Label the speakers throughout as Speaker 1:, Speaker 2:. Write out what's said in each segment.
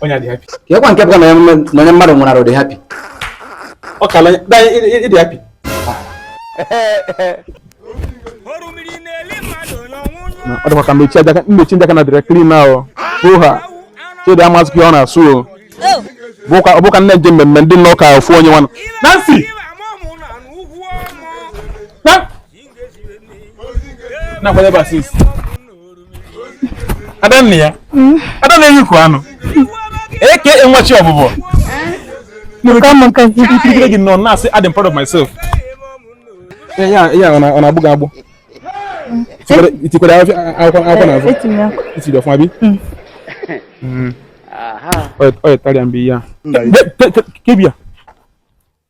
Speaker 1: onye adị happy kekwa nke
Speaker 2: pụta na onye mmadụ nwụrụ arụ dị happy
Speaker 1: ọ
Speaker 3: kala ịdị happy ọ dịkwa ka mmechi ndị aka na dịrị clean ahụ hụ ha Chidi amasị ka ọ na-asụ o ọ bụka nne nje mmemme ndị nna ụka ofu onye nwanụ
Speaker 1: Nancy na-akwado ebe asis adanna ya hmm? ada na-eri ukwu anụ eke nwachi ọbụbọ ikirikiri gị nọ na-asị I'm proud of myself ya ọ na-agbụ gị agbụ itikwere akwụkwọ n'azụ itiri ọfụma bi ọ yetara ya mgbe ihe a kebia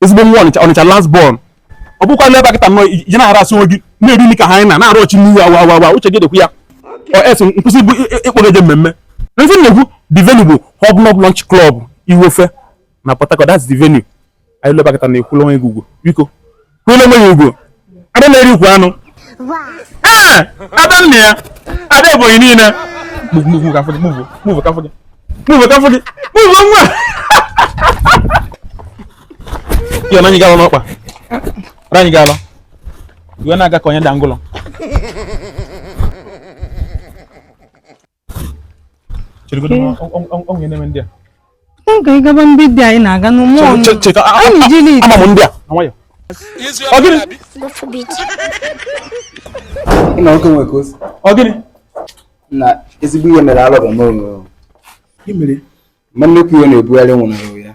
Speaker 1: ezigbo nwa Ọnịcha last born ọ bụkwa n'ebe a kịta nọ ije na-harass onwe gị na-eri nri ka ha anyị na na-arụ ọchị n'ihu awa awa awa uche gị dịkwa ya ọ esi nkwụsị bụ ịkpọ gị je mmemme ndị na-ekwu the venue bụ hobnob lunch club Iwofe na Port Harcourt that's the venue anyị luo ebe a kịta na-ekwula onwe gị ugwu biko kwụla onwe gị ugwu ada na-eri ukwu anụ ee ada nna ya ada Ebonyi niile move move ka fọdụ move move ka fọdụ move ka fọdụ move nwa ya na anyị ga-alụ n'ọkpa na anyị ga-alụ iwe na-aga ka onye dangụlọ cheregodi m ọ- ọ- ọ- onye na-eme ndị a M ka
Speaker 4: ị gaba ndị dị anyị na-aga n'ụmụ Che- che- cheta a- Anyị a- jiri ama m ndị a na nwayọ
Speaker 1: ọ gịnị God
Speaker 2: forbid. Nna nwoke nwe ka o si. ọ
Speaker 1: gịnị
Speaker 2: Na ezigbo ihe mere alọba m o. Gị mere
Speaker 1: ma nnukwu
Speaker 2: ihe na-ebugharị nwunye ya.